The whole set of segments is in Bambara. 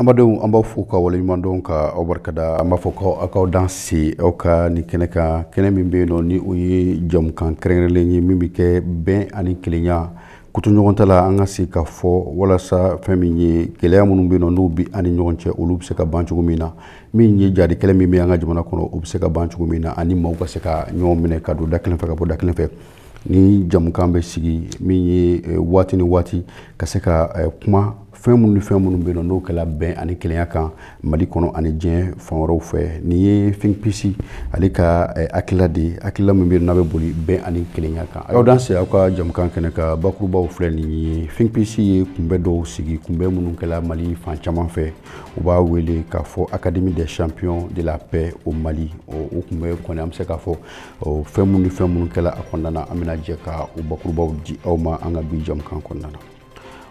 Amadenw an b'aw fo k'aw waleɲumandɔn ka aw barika da an b'a fɔ ko aw k'aw danse aw ka nin kɛnɛ kan kɛnɛ min bɛ yen nɔ ni o ye jamukan kɛrɛnkɛrɛnlen ye min bɛ kɛ bɛn ani kelenya kotoɲɔgɔntala an ka se ka fɔ walasa fɛn min ye gɛlɛya minnu bɛ yen nɔ n'u bɛ an ni ɲɔgɔn cɛ olu bɛ se ka ban cogo min na min ye jadi kɛlɛ min bɛ an ka jamana kɔnɔ o bɛ se ka ban cogo min na ani maaw ka se ka ɲɔgɔn minɛ ka don da kelen fɛ ka bɔ da kelen fɛ nin jamukan bɛ sigi min ye waati ni waati ka se ka kuma fɛn minnu ni fɛn minnu bɛ yen n'o kɛla bɛn ani kelenya kan mali kɔnɔ ani diɲɛ fan wɛrɛw fɛ nin ye think peace ale ka hakilila de ye hakilila min bɛ yen n'a bɛ boli bɛn ani kelenya kan aw danse aw ka jamukan kɛnɛ kan bakurubaw filɛ nin ye think peace ye kunbɛ dɔw sigi kunbɛ minnu kɛla mali fan caman fɛ u b'a wele k'a fɔ académie des champions de la paix au mali o kunbɛ kɔni an bɛ se k'a fɔ fɛn minnu ni fɛn minnu kɛla a kɔnɔna na an bɛna jɛ ka o bakurubaw di aw ma an ka bi jamukan kɔnɔna na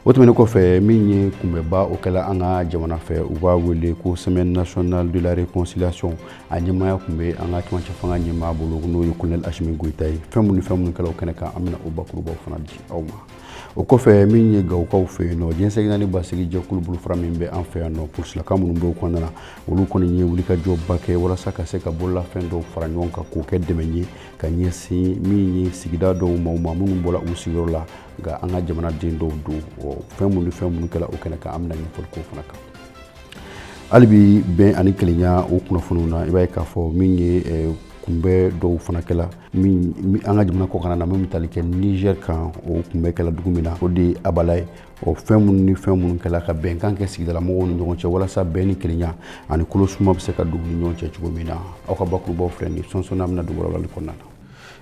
o tɛmɛnen kɔfɛ min ye kunbɛba o kɛla an ka jamana fɛ u b'a wele ko semaine nationale de la réconciliation a ɲɛmaaya tun bɛ an ka cɛmancɛ fanga ɲɛmaa bolo n'o ye colonel asimi goyita ye fɛn minnu ni fɛn minnu kɛla o kɛnɛ kan an bɛna o bakurubaw fana di aw ma o kɔfɛ min ye gawukaw fɛ yen nɔ diɲɛ seleke naani basigi jɛkulu bolofara min bɛ an fɛ yan nɔ polisilaka minnu bɛ o kɔnɔna na olu kɔni ye wulikajɔba kɛ walasa ka se ka bololafɛn dɔw fara ɲɔgɔn kan k'o kɛ dɛmɛ ye ka ɲɛsin min ye sigida dɔw ma maa minnu bɔra u sigiyɔrɔ la nka an ka jamanaden dɔw don fɛn minnu ni fɛn minnu kɛla o kɛnɛ kan an bɛna ɲɛfɔli k'o fana kan hali bi bɛn ani kelenya o kunnafoniw na i b'a ye k'a fɔ min ye kunbɛ dɔw fana kɛla min an ka jamana kɔkanna na min bɛ tali kɛ niger kan o kunbɛ kɛla dugu min na o de ye abala ye o fɛn minnu ni fɛn minnu kɛla ka bɛnkan kɛ sigidala mɔgɔw ni ɲɔgɔn cɛ walasa bɛn ni kelenya ani kolosuma bɛ se ka don u ni ɲɔgɔn cɛ cogo min na aw ka bakurubaw filɛ nin sɔnsɔn an bɛna don u walawalali kɔnɔna na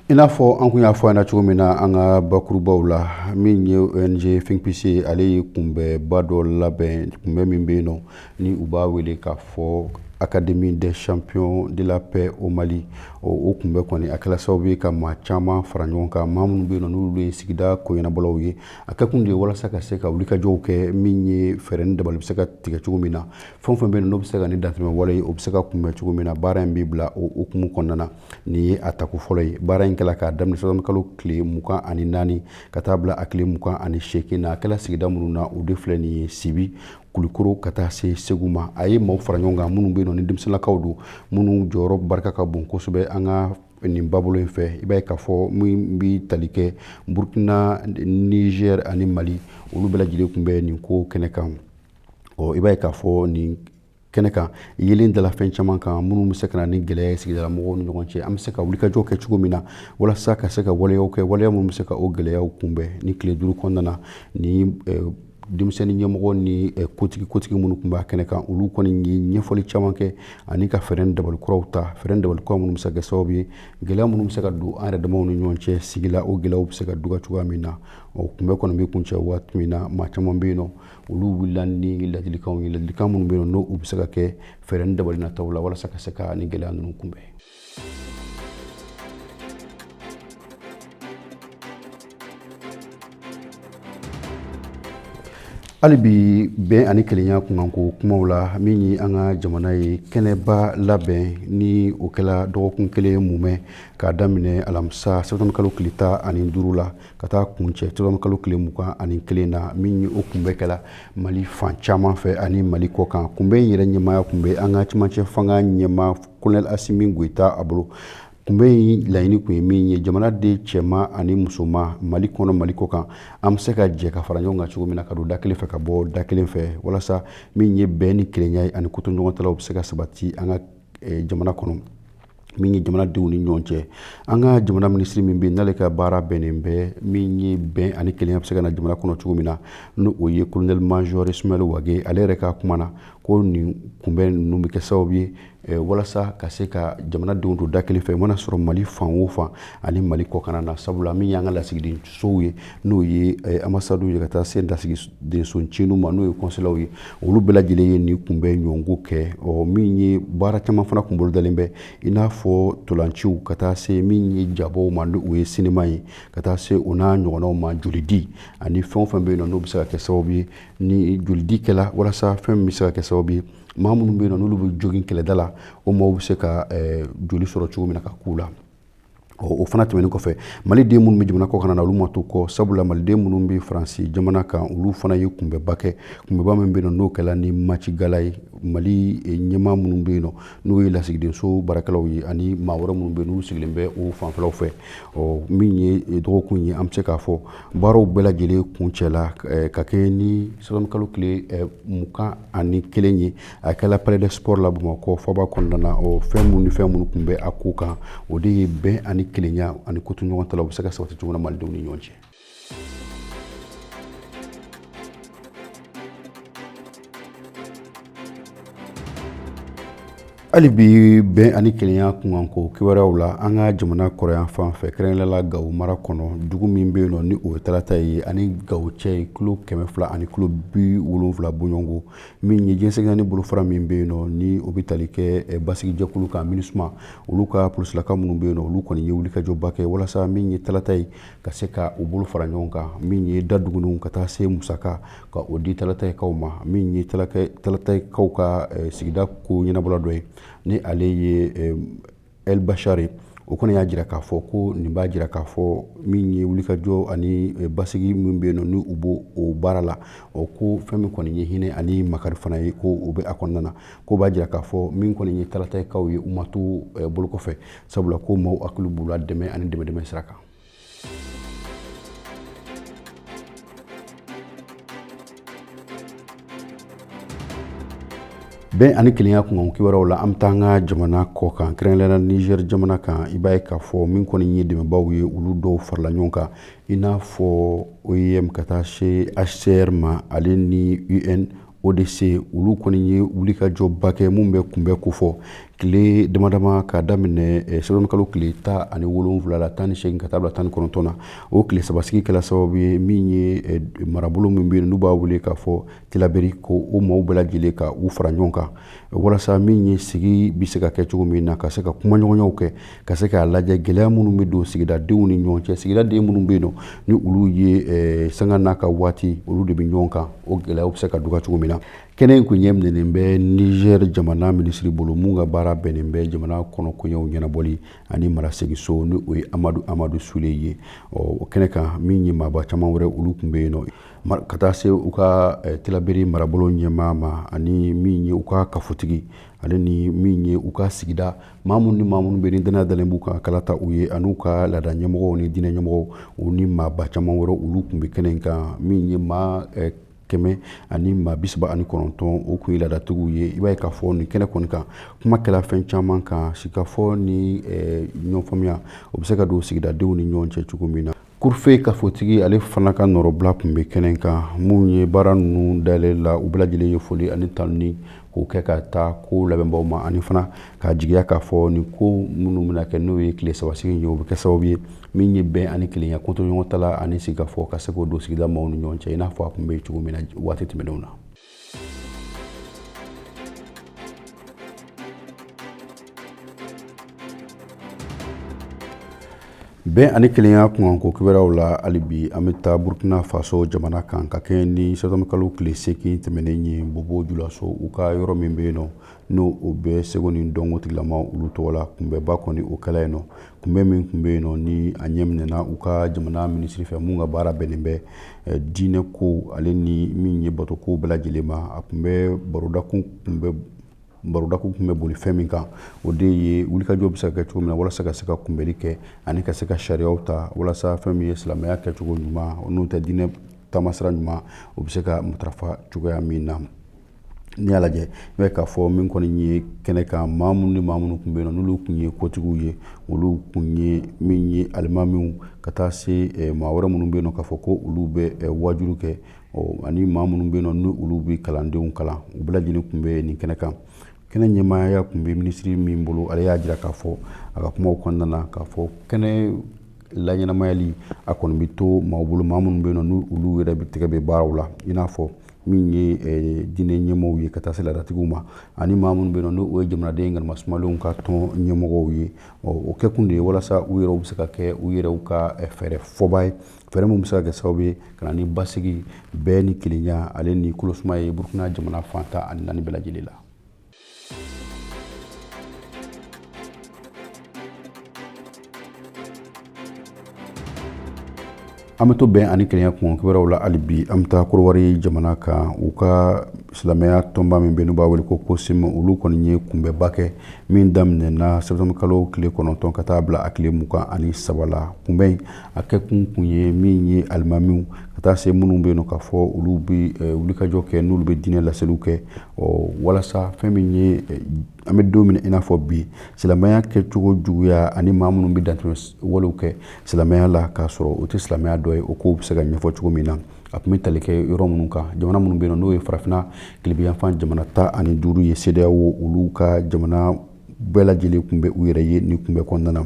i n'a fɔ an kun y'a fɔ ɲɛna cogo min na an ka bakurubaw la min ye ong think peace ye ale ye kunbɛba dɔ labɛn kunbɛ min bɛ yen nɔ ni u b'a wele k'a fɔ académie des champions de la paix au mali o kunbɛ kɔni a kɛla sababu ye ka maa caman fara ɲɔgɔn kan maa minnu bɛ yen nɔ n'olu ye sigida koɲɛnabɔlaw ye a kɛkun de ye walasa ka se ka wulikajɔw kɛ min ye fɛɛrɛ ni dabali bɛ se ka tigɛ cogo min na fɛn o fɛn bɛ yen n'o bɛ se ka ni dantɛmɛ wale ye o bɛ se ka kunbɛn cogo min na baara in bɛ bila o hukumu kɔnɔna na nin ye a tako fɔlɔ ye baara in kɛla k'a daminɛ zanwuye kalo tile mugan ani naani ka taa bila a tile mugan ani seegin na a kɛla sigida minnu na o de filɛ nin ye sibi kulikoro ka taa se segu ma a ye maaw fara ɲɔgɔn kan minnu bɛ yen nɔ ni denmisɛnninlakaw don minnu jɔyɔrɔ barika ka bon kosɛbɛ an ka nin babolo in fɛ i b'a ye k'a fɔ min bɛ tali kɛ burkina nizɛri ani mali olu bɛɛ lajɛlen tun bɛ nin ko kɛnɛ kan ɔ i b'a ye k'a fɔ nin kɛnɛ kan yelen dala fɛn caman kan minnu bɛ se ka na ni gɛlɛya ye sigidala mɔgɔw ni ɲɔgɔn cɛ an bɛ se ka wulikajɔ kɛ cogo min na walasa ka se ka waleyaw kɛ waleya minnu bɛ se ka o gɛlɛyaw kunbɛn nin tile duuru kɔnɔna na ni eh, denmisɛnnin ɲɛmɔgɔ ni eh, kotigi kotigi minnu tun b'a kɛnɛ kan olu kɔni ye ɲɛfɔli caman kɛ ani ka fɛɛrɛ dabali kuraw ta fɛɛrɛ dabali kura minnu bɛ se ka kɛ sababu ye gɛlɛya minnu bɛ se ka don an yɛrɛ damaw ni ɲɔgɔn cɛ sigi la o gɛlɛyaw bɛ se ka duga cogoya min na o kunbɛn kɔni bɛ kuncɛ waati min na maa caman bɛ yen nɔ olu wulila ni ladilikanw ye ladilikan minnu bɛ yen nɔ n'o bɛ se ka kɛ fɛɛrɛ ni dabali nataw la walasa ka se ka nin gɛlɛya ninnu kunbɛn hali bi bɛn ani kelenya kunkanko kumaw la min ye an ka jamana ye kɛnɛba labɛn ni o kɛla dɔgɔkun kelen mumɛ k'a daminɛ alamisa sɛtanburukalo kile tan ani duuru la ka taa kuncɛ sɛtanburukalo tile mugan ani kelen na min ye o kunbɛn kɛla mali fan caman fɛ ani mali kɔkan kunbɛn in yɛrɛ ɲɛmaaya tun bɛ an ka camancɛ fanga ɲɛmaa kolonɛli asimi goyita a bolo kunbɛn in laɲini tun ye min ye jamanaden cɛman ani musoman mali kɔnɔ mali kɔkan an bɛ se ka jɛ ka fara ɲɔgɔn kan cogo min na ka don da kelen fɛ ka bɔ da kelen fɛ walasa min ye bɛn ni kelenya ye ani kotoɲɔgɔntala o bɛ se ka sabati an ka jamana kɔnɔ min ye jamanadenw ni ɲɔgɔn cɛ an ka jamana minisiri min bɛ n'ale ka baara bɛnnen bɛ min ye bɛn ani kelenya bɛ se ka na jamana kɔnɔ cogo min na n'o ye kolonɛli mazɔri isimayɛli wage ale yɛrɛ ka kuma na ko nin kunbɛn ninnu bɛ kɛ sababu ye eh, walasa ka se ka jamanadenw don da kelen fɛ mana sɔrɔ mali fan o fan ani mali kɔkanna na sabula min y'an ka lasigidensow ye n'o ye eh, anbasadiw ye ka taa se lasigidenso ncinin ma n'o ye kɔnsulaw ye olu bɛɛ lajɛlen ye nin kunbɛn ɲɔgɔnko kɛ ɔ min ye baara caman fana kun bolodalen bɛ i n'a fɔ ntolaciw ka taa se min ye jabɔ ma ni o ye sinima ye ka taa se o n'a ɲɔgɔnnaw ma jolidi ani fɛn o fɛn bɛ yen nɔ n'o bɛ se ka kɛ sababu ye ni jolidi kɛla walasa fɛn min bɛ se ka kɛ sababu ye maa minnu bɛ yen nɔ n'olu bɛ jogin kɛlɛda la o maaw bɛ se ka eh, joli sɔrɔ cogo min na ka k'u la o fana tɛmɛnen kɔfɛ maliden minnu bɛ jamana kɔkanna na olu ma to kɔ sabula maliden minnu bɛ faransi jamana kan olu fana ye kunbɛnba kɛ kunbɛnba min bɛ yen n'o kɛla ni match gala ye mali eh, ɲɛmaa minnu bɛ yen nɔ n'o ye lasigidenso baarakɛlaw ye ani maa wɛrɛ minnu bɛ yen n'u sigilen bɛ o fanfɛlaw fɛ ɔ min ye eh, dɔgɔkun ye an bɛ se k'a fɔ baaraw bɛɛ lajɛlen kuncɛla eh, ka kɛ ni sɛtanburukalo tile mugan ani kelen ye a kɛla palais des sports la bamakɔ faba kɔnɔna na o fɛn minnu ni fɛn minnu tun bɛ a ko kan o de ye bɛn ani kelenya ani kotoɲɔgɔntala o bɛ se ka sabati cogo min na malidenw ni ɲɔgɔn cɛ hali bi bɛn ani kelenya kunkanko kibaruyaw la an ka jamana kɔrɔnyanfan fɛ kɛrɛnkɛrɛnnenya la gawo mara kɔnɔ dugu min bɛ yen nɔ ni o ye talataye a ni gawo cɛ ye kilo kɛmɛ fila ani kilo bi wolonwula bɔɲɔgɔnko min ye jɛnsɛgɛna ni bolofara min bɛ yen nɔ ni o bɛ tali kɛ eh, basigijɛkulu kan minusma olu ka polisilaka minnu bɛ yen nɔ olu kɔni ye wulikajɔba kɛ walasa min ye talataye ka se ka u bolo fara ɲɔgɔn kan min ye da duguninw ka taa se musaka ka o di talatayikaw ma min ye talatayikaw ka eh, sigida ko ɲɛnabɔla dɔ ye ni ale ye eh, el bachari o kɔni y'a jira k'a fɔ ko nin b'a jira k'a fɔ min ye wulikajɔ ani eh, basigi min bɛ yen nɔ ni u b'o o baara la o ko fɛn min kɔni ye hinɛ ani makari fana ye ko o bɛ a kɔnɔna na ko b'a jira k'a fɔ min kɔni ye talatayikaw ye u ma to eh, bolo kɔfɛ sabula ko maaw hakili b'u la dɛmɛ ani dɛmɛdɛmɛ sira kan bɛn ani kelenya kunkan kibaruyaw la an bɛ taa an ka jamana kɔ kan kɛrɛnkɛrɛnna niger jamana kan i b'a ye k'a fɔ min kɔni ye dɛmɛbaw ye olu dɔw farala ɲɔgɔn kan i n'a fɔ oim ka taa se hcr ma ale ni un odc olu kɔni ye wulikajɔba kɛ mun bɛ kunbɛn kofɔ tile damadama k'a daminɛ eh, sɛtɔmikalo tile tan ani wolonwula la tan ni segin ka taa bila tan ni kɔnɔntɔn na o tile sabasigi kɛla sababu ye min ye eh, marabolo min bɛ yen n'u b'a wele k'a fɔ tilaberi ko o maaw bɛɛ lajɛlen ka u fara ɲɔgɔn kan walasa min ye sigi bɛ se ka kɛ cogo min na ka se ka kumaɲɔgɔnyaw kɛ ka se k'a lajɛ gɛlɛya minnu bɛ don sigidadenw ni ɲɔgɔn cɛ sigidaden minnu bɛ yen nɔ ni olu ye eh, sanga n'a ka waati olu de bɛ ɲɔgɔn kan o gɛlɛyaw bɛ se ka dɔgɔya cogo min na kɛnɛ in kun ɲɛminɛnen bɛ niger jamana minisiri bolo mun ka baara bɛnnen bɛ jamana kɔnɔ koɲɛw ɲɛnabɔli ani maraseginso ni o ye amadu amadu sule ye o kɛnɛ kan min ye maaba caman wɛrɛ olu kun bɛ yen nɔ ka taa se u ka eh, tilaberi marabolo ɲɛmaa ma ani min ye u ka kafotigi ale ni min ye u ka sigida maa minnu ni maa minnu bɛ ni danaya dalen b'u kan kalata u ye ani u ka laada ɲɛmɔgɔ ni diinɛ ɲɛmɔgɔw ni maaba caman wɛrɛ olu kun bɛ kɛnɛ kan min ye maa eh, kɛmɛ ani maa bisaba ani kɔnɔntɔn o kun ye laadatigiw ye i b'a ye k'a fɔ nin kɛnɛ kɔni kan kuma kɛla fɛn caman kan sikafɔ ni eh, ɲɔgɔnfaamuya o bɛ se ka don sigidadenw ni ɲɔgɔn cɛ cogo min na Kurufe kafotigi ale fana ka nɔrɔbila kun bɛ kɛnɛ kan mun ye baara ninnu dayɛlɛ la u bɛɛ lajɛlen ye foli ani tanuni k'o kɛ ka taa ko labɛnbaw ma ani fana k'a jigiya k'a fɔ nin ko minnu bɛna kɛ n'o ye tile sabasigi ye o bɛ kɛ sababu ye min ye bɛn ani kelenya kotoɲɔgɔntala ani sigikafɔ ka se k'o don sigida maaw ni ɲɔgɔn cɛ i n'a fɔ a kun bɛ cogo min na waati tɛmɛnenw na bɛn ani kelenya kunkanko kibaruyaw la hali bi an bɛ taa burkina faso jamana kan ka kɛɲɛ ni sɛtɔmikalo tile seegin tɛmɛnen ye bobo julaso u ka yɔrɔ min bɛ yen nɔ n'o o bɛ seko ni dɔnko tigilama olu tɔgɔ la kunbɛnba kɔni o kɛla yen nɔ kunbɛn min tun bɛ yen nɔ ni a ɲɛminɛna u ka jamana minisiri fɛ min ka baara bɛnnen bɛ eh, diinɛ ko ale ni min ye bato ko bɛɛ lajɛlen ma a kunbɛn barodakun tun bɛ boli fɛn min kan o de ye wulikajɔ bɛ se ka kɛ cogo min na walasa ka se ka kunbɛli kɛ ani ka se ka sariyaw ta walasa fɛn min ye silamɛya kɛcogo ɲuman n'o tɛ diinɛ taamasira ɲuman o bɛ se ka matarafa cogoya min na n'i y'a lajɛ i b'a ye k'a fɔ min kɔni ye kɛnɛ kan maa minnu ni maa minnu tun bɛ yen nɔ n'olu tun ye kotigiw ye olu tun ye min ye alimamiw ka taa se eh, maa wɛrɛ minnu bɛ yen nɔ k'a fɔ ko olu bɛ eh, wajulu kɛ ani maa minnu bɛ yen nɔ ni olu bɛ kalandenw kalan u bɛɛ lajɛlen tun bɛ nin kɛnɛ kan kɛnɛ ɲɛmaaya tun bɛ minisiri min bolo ale y'a jira k'a fɔ a ka kumaw kɔnɔna na k'a fɔ kɛnɛ laɲɛnamayali a kɔni bɛ to maaw bolo maa minnu bɛ yen nɔ n'olu yɛrɛ de tɛgɛ bɛ baaraw la i n'a fɔ min ye eh, diinɛ ɲɛmɔgɔw ye ka taa se laadatigiw ma ani maa minnu bɛ yen nɔ n'o ye jamanaden galama sumalenw ka tɔn ɲɛmɔgɔw ye o kɛkun de ye walasa u yɛrɛw bɛ se ka kɛ u yɛrɛw ka eh, fɛɛrɛ fɔbaa ye fɛɛrɛ min bɛ se ka kɛ sababu ye ka na ni basigi bɛn ni kelenya ale ni kolosuma ye burukina jamana fan tan ani naani bɛɛ lajɛlen la an bɛ to bɛn ani kelenya kun kibaruyaw la hali bi an bɛ taa korowari jamana kan u ka silamɛya tɔnba min bɛ n'u b'a wele ko kosim olu kɔni ye kunbɛba kɛ min daminɛna sɛtanburu kalo tile kɔnɔntɔn ka taa bila a tile mugan ani saba la kunbɛn in a kɛkun kun ye min ye alimamiw ka taa se minnu bɛ yen nɔ k'a fɔ olu bɛ wulikajɔ kɛ n'olu bɛ diinɛ laseliw kɛ ɔ walasa fɛn min ye eh, an bɛ don min na i n'a fɔ bi silamɛya kɛcogo juguya ani maa minnu bɛ dantɛmɛ walew kɛ silamɛya la k'a sɔrɔ o tɛ silamɛya dɔ ye o kow bɛ se ka ɲɛfɔ cogo min na a tun bɛ tali kɛ yɔrɔ minnu kan jamana minnu bɛ yen nɔ n'o ye farafinna tilebinyanfan jamana tan ani duuru ye sedeyawo olu ka jamana bɛɛ lajɛlen tun bɛ u yɛrɛ ye nin kunbɛn kɔnɔna na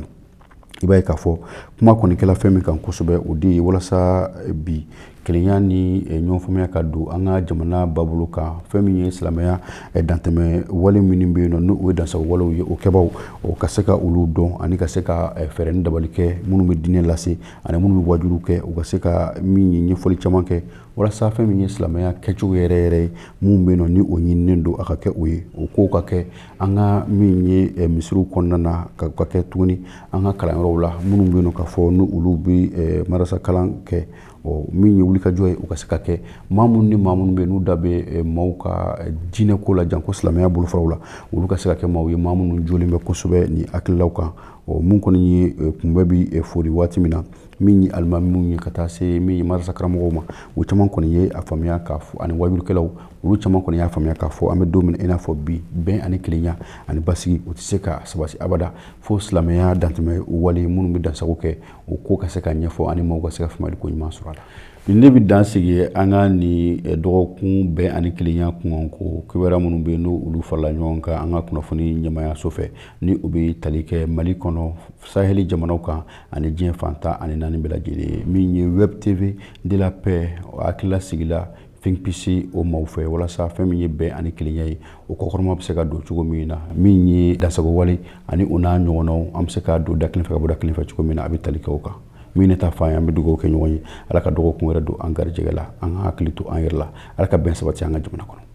i b'a ye k'a fɔ kuma kɔni kɛla fɛn min kan kosɛbɛ o de ye walasa eh, bi kelenya ni eh, ɲɔgɔnfaamuya ka don an ka jamana babolo kan fɛn min ye silamɛya eh, dantɛmɛ wale minnu bɛ yen nɔ n'o ye dansagon walew ye o kɛbaw u ka se ka olu dɔn ani ka se ka fɛɛrɛ ni dabali kɛ minnu bɛ diinɛ lase ani minnu bɛ wajulu kɛ u ka se ka min ye ɲɛfɔli caman kɛ walasa fɛn min ye silamɛya kɛcogo yɛrɛ yɛrɛ ye min bɛ yen nɔ ni o ɲininen don a ka kɛ o ye o kow ka kɛ an ka min ye eh, misiriw kɔnɔna na ka kɛ tuguni an ka kalanyɔrɔw la minnu bɛ yen nɔ k'a fɔ ni olu bɛ eh, marasa kalan kɛ ɔ min ye wulikajɔ ye u ka se ka kɛ maa minnu ni maa minnu bɛ yen n'u da bɛ eh, maaw ka diinɛ ko la janko silamɛya bolofaraw la olu ka se ka kɛ maaw ye maa minnu jɔlen bɛ kosɛbɛ nin hakililaw kan ɔ min kɔni ye kunbɛn bɛ fori waati min na min ye alimamiw ye ka taa se min ye marasa karamɔgɔw ma u caman kɔni ye a faamuya k'a fɔ ani wajulikɛlaw olu caman kɔni y'a faamuya k'a fɔ an bɛ don min i n'a fɔ bi bɛn ani kelenya ani basigi u tɛ se ka sabati abada fo silamɛya dantɛmɛ wale minnu bɛ dansago kɛ o ko ka se ka ɲɛfɔ ani maaw ka se ka faamuyali ko ɲuman sɔrɔ a la nin ne bɛ dan sigi an ka nin eh, dɔgɔkun bɛn ani kelenya kunkan ko kibaruya minnu bɛ yen n'olu farala ɲɔgɔn kan an ka kunnafoni ɲɛmaayaso fɛ ni o bɛ tali kɛ mali kɔnɔ saheli jamanaw kan ani diɲɛ fan tan ani naani bɛɛ lajɛlen ye min ye web tv de la paix hakilila sigila think peace o maaw fɛ walasa fɛn min ye bɛn ani kelenya ye o kɔkɔrɔma bɛ se ka don cogo min na min ye dansago wale ani o n'a ɲɔgɔnnaw an bɛ se ka don da kelen fɛ ka bɔ da kelen fɛ cogo min na a bɛ tali kɛ o kan min ne ta fan ye an bɛ dugawu kɛ ɲɔgɔn ye ala ka dɔgɔkun wɛrɛ don an garijɛgɛ la an ka hakili to an yɛrɛ la ala ka bɛn sabati an ka jamana kɔnɔ